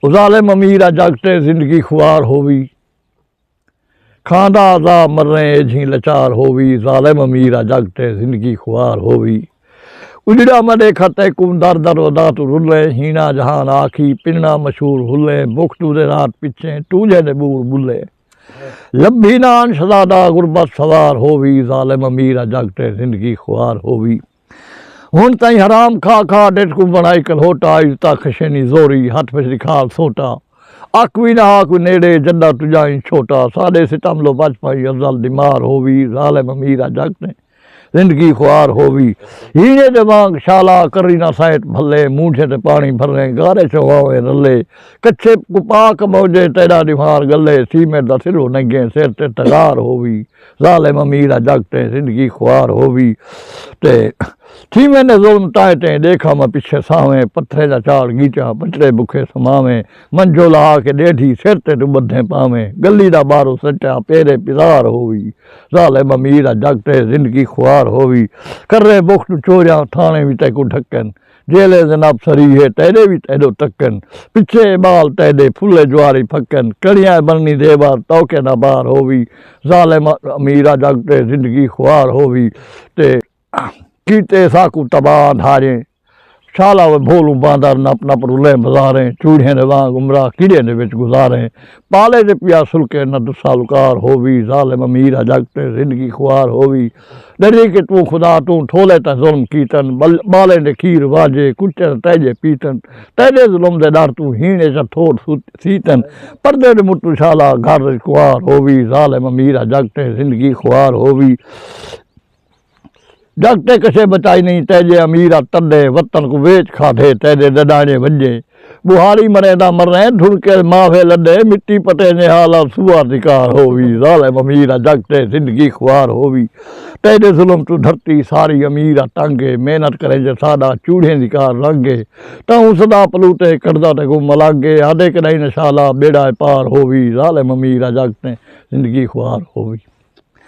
او ظالم امیر آ جگ تے زندگی خوار ہووی کھاندا عزا مریں ایجھیں لچار ہووی ظالم امیر آ جگ تے زندگی خوار ہووی اجڑا میں ڈیکھا تیکوں در در ادا توں رلیں ہینا جہان آکھی پننا مشہور ہلیں بکھ توں دے رات پچھیں ٹونجھے دے بور بلیں لبھی نان شزادہ غربت سوار ہووی ظالم امیر آ جگ تے زندگی خوار ہووی۔ ہن تئیں حرام کھا کھا ڈٹھ کوں بنڑائی کلہوٹا اج تاں خشینی زوری ہتھ وچ ڈکھال سوٹا اک وی نہ ہا کوئی نیڑے جڈاں تجائیں چھوٹا ساڈے ستم لو بچ پائی ازل دی مار ہووی ظالم امیر اج اک تیں زندگی خوار ہووی ہینے دے وانگ شالا کری نہ سائٹ بھلے مونجھیں تے پانی بھریں گارے چواویں رلے کچھے کوں پاک موجیں تیڈا ڈیوہار گلے سیمٹ دا سلو ننگیں سر تے تغار ہووی۔ ظالم امیر آ جگ تیں زندگی خوار ہووی تے تھیویں دے ظلم تائیں تیں ݙیکھا میں پچھے ساویں پتھرے دا چاڑ گیچاں بچڑے بکھے سماویں منجھو لہا کے ݙیڈھی سر تے توں ٻدھیں پاویں گلی دا ٻارو سٹا پیرے پزار ہووی ظالم امیر آ جگ تیں زندگی خوار ہووی کریں بخت چوریاں تھاݨے وی تیکوں ڈھکن جیلے زنب سری ہے تیڈے وی تیڈو تکن پچھے اے بال تیڈے پھلے جواری پھکن کڑیاں اے بننی دیوار توکے نہ بار ہووی ظالم امیر آ جگ تے زندگی خوار ہووی تے کیتے ساکوں تباہ اندھاریں شالا وے بھولوں باندر نپ نپ رلیں بزاریں چوڑھیں دے وانگ عمراں کیڈے دے وچ گزاریں پالے دے پیا سلکے نہ دسالکار ہووی ظالم امیر آ جگ تے زندگی خوار ہووی ڈری کہ توں خدا توں ٹھولے تیں ظلم کیتن بالیں دے کھیر واجے کتے تاں تیجے پیتن تیجے ظلم دے ڈر توں ہین اچ اتھوٹ سیتن پردے دے متوں شالا گھر اچ کنوار ہووی ظالم امیر آ جگ تے زندگی خوار ہووی۔ ڈکھ تے کسے بچائی نئیں تیجے امیر آ تڈے وطن کوں ویچ کھادھے تیجے ڈڈانجے ونجے بوہاڑی مریں دا مریں دھڑ کے ماوھے لڈے مٹی پٹینجے حال آ سوار دی کار ہووی ظالم امیر آ جگ تے زندگی خوار ہووی تیجے ظلم توں دھرتی ساری امیر آ تنگ اے محنت کرینجے ساڈا چوڑھیں دی کار رنگ اے تہوں صدا پلوٹے کڈھدا تے کوں ملنگ اے آدھے کڈائی نہ شالا بیڑا اے پار ہووی ظالم امیر آ جگ تے زندگی خوار ہووی۔